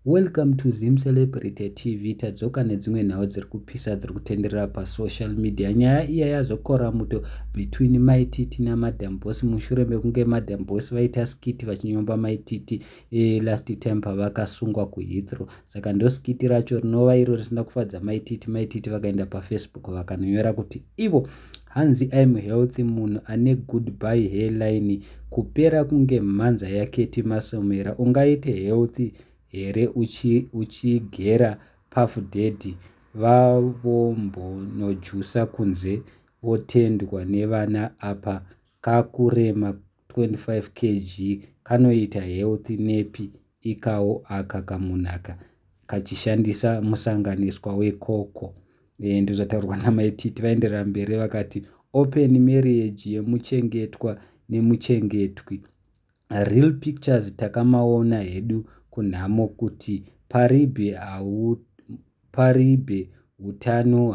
Welcome to Zim Celebrity TV tadzoka nedzimwe nhau dziri kupisa dziri kutenderera pasocial media nyaya iya yazokora muto between mai titi namadam boss mushure mekunge madam boss vaita skit vachinyomba mai titi e, last time pavakasungwa kuhithrow saka ndo skit racho rinova iro risina kufadza mai titi mai titi vakaenda pafacebook vakanonyora kuti ivo Hanzi I'm healthy munhu ane goodbye hairline kupera kunge mhanza yaKetty Masomera ungaite healthy here uchi, uchigera Puff Daddy vavombonojusa kunze votendwa nevana apa kakurema 25 kg kanoita health nepi ikawo aka kamunaka kachishandisa musanganiswa wekoko e, ndozvataurwa namai titi vaenderera mberi vakati open marriage yemuchengetwa nemuchengetwi real pictures takamaona hedu kunhamo kuti paribe hau Paribe hutano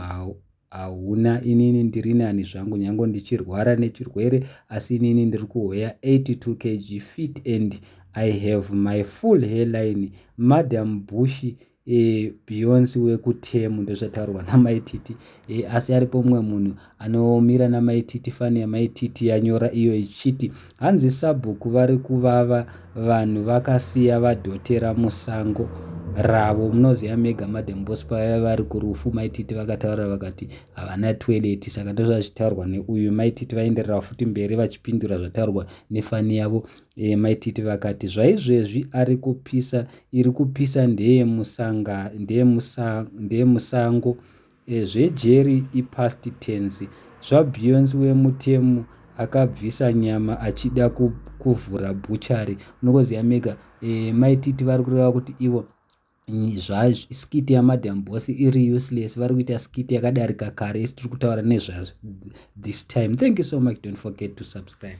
hauna inini ndirinani zvangu nyango ndichirwara nechirwere asi inini ndiri kuweya 82 kg fit and I have my full hairline madam Bushi e, Beyonce wekutemu ndozvataurwa namaititi e, asi aripo mumwe munhu Anomira namai Titi fani yamai Titi yanyora iyo ichiti hanzi sabhuku vari kuvava vanhu vakasiya vadhotera musango ravo munoziva mega madam boss pavaya vari kurufu mai Titi vakataura vakati havana toilet saka ndozvazvitaurwa neuyu mai Titi vaenderera futi mberi vachipindura zvataurwa nefani yavo e, mai Titi vakati zvaizvezvi ari kupisa iri kupisa ndeye musanga ndeye musango Eh zvejeri ipast tense. Zvabeyonce wemutemu akabvisa nyama achida kuvhura bhuchari munokoziva mega eh, mai titi vari kureva kuti ivo zvaskit yamadam boss iri useless vari kuita skit yakadarika kare isi tiri kutaura nezvazvo this time thank you so much don't forget to subscribe